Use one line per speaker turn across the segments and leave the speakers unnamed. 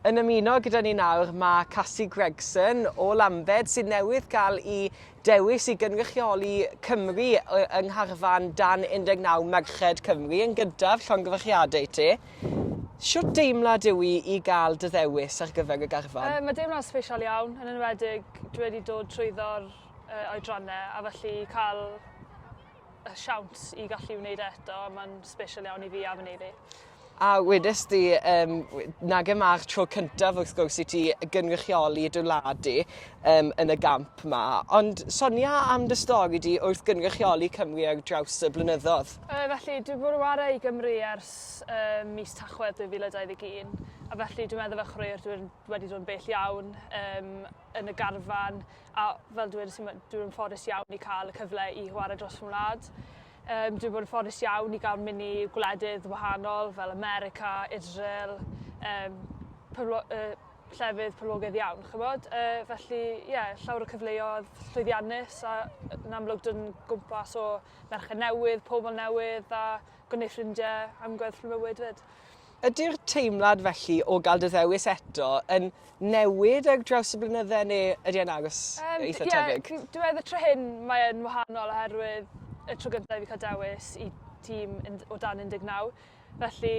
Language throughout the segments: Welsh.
Yn ymuno gyda ni nawr mae Casi Gregson o Lambed sydd newydd gael i dewis i gynrychioli Cymru yng ngharfan dan 19 Merched Cymru yn gyntaf llongyfarchiadau i ti. Siwt deimlad yw i i gael dy ddewis ar gyfer y garfan? Yy mae deimlad sbesial
iawn, yn enwedig dwi wedi dod trwyddo'r yy oedrannau a felly cael y siawns i gallu wneud e eto, mae'n special iawn i fi a fy neiddi. A wedes
di, um, nag e mae'r tro cyntaf wrth gwrs i ti gynrychioli dy wlad di um, yn y gamp ma. Ond sonia am dy stori di wrth gynrychioli Cymru ar draws y blynyddoedd. Uh, felly, dwi wedi bod yn
wario i Gymru ers uh, mis Tachwedd 2021. A felly, dwi'n meddwl fe chwaraewr dwi'n wedi dod yn bell iawn um, yn y garfan, A fel dwedes i, dwi yn ffodus iawn i cael y cyfle i chwarae dros fy wlad. Um, dwi'n bod yn ffodus iawn i gael mynd i gwledydd wahanol fel America, Israel, um, pyblo, uh, llefydd poblogaidd iawn, chymod? Uh, felly, ie, yeah, llawer o cyfleoedd llwyddiannus a yn amlwg dyn gwmpas o merched newydd, pobl newydd a gwneud ffrindiau am gweddill mywyd fyd. Ydy'r
teimlad felly o gael dy ddewis eto yn newid ar draws y blynydde neu ydy e'n aros um, eitha yeah, tebyg? Ie, dwi meddwl tro hyn
mae'n wahanol oherwydd y tro gyntaf i fi cael dewis i tîm o dan 19. Felly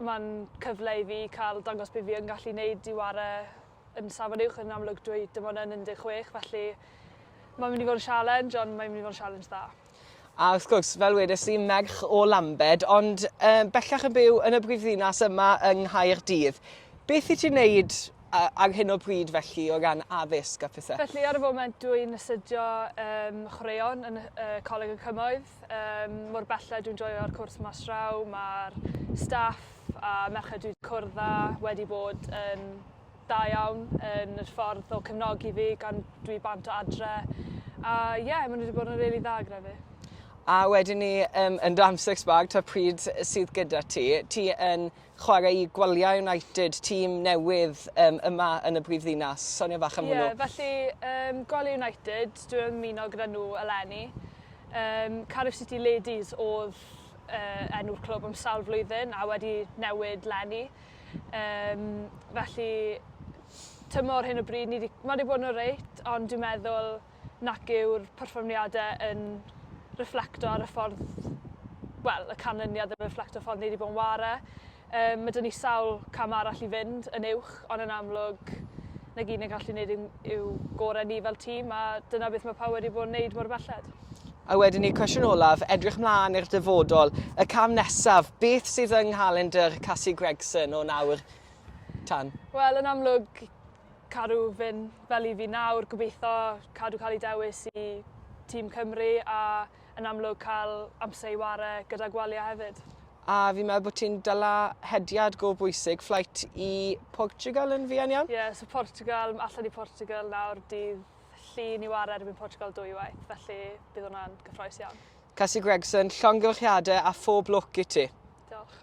mae'n cyfle i fi cael dangos beth fi yn gallu wneud i ware yn safon uwch yn amlwg dwi dim ond yn 16 felly mae'n mynd i fod yn sialens ond mae'n mynd i fod yn sialens dda. A wrth gwrs,
fel wedes i, merch o Lambed, ond uh, bellach yn byw yn y brifddinas yma yng Nghaerdydd. Beth i ti'n wneud ar hyn o bryd felly o ran addysg a phethau? Felly ar y foment dwi'n
astudio um, chwaraeon yn uh, Coleg y Cymoedd. Um, mor belled dwi'n joio'r cwrs mas raw, mae'r staff a merched dwi'n cwrdd â wedi bod yn da iawn yn yr ffordd o cefnogi fi gan dwi bant o adre. A ie, yeah, maen nhw wedi bod yn rili really dda gyda fi. A wedyn ni
um, yn dan six bag, ta pryd sydd gyda ti. Ti yn chwarae i Gwaliau United, tîm newydd um, yma yn y brif ddinas. Sonia fach am hwnnw. Ie, felly um, Gwaliau
United, dwi'n ymuno gyda nhw eleni. Um, Cardiff City Ladies oedd uh, enw'r clwb am sawl flwyddyn a wedi newid lenni. Yym, felly, tymor hyn o bryd, ni di, mae wedi bod yn oreit, ond dwi'n meddwl nac yw'r perfformiadau yn reflecto ar y ffordd, wel, y canlyniad yn reflecto ffordd ni wedi bod yn ware. Um, mae dyn ni sawl cam arall i fynd yn uwch, ond yn amlwg, na gyd ni'n gallu gwneud yw, yw gorau ni fel tîm, a dyna beth mae pawb wedi bod yn gwneud mor belled. A wedyn i'r
cwestiwn olaf, edrych mlaen i'r dyfodol, y cam nesaf, beth sydd yng nghalendr Cassie Gregson o nawr tan? Wel, yn amlwg,
cadw fyn fel i fi nawr, gobeithio cadw cael ei dewis i tîm Cymru a yn amlwg cael amser i ware gyda gwalia hefyd. A fi'n meddwl bod
ti'n dyla hediad go bwysig, fflait i Portugal yn fuan iawn? Ie, yeah, so Portugal,
allan i Portugal nawr dydd llun i ware erbyn Portugal dwywaith, felly bydd hwnna'n gyffroes
iawn. Casi Gregson, llongyllchiade a
phob
lwc i ti. Diolch.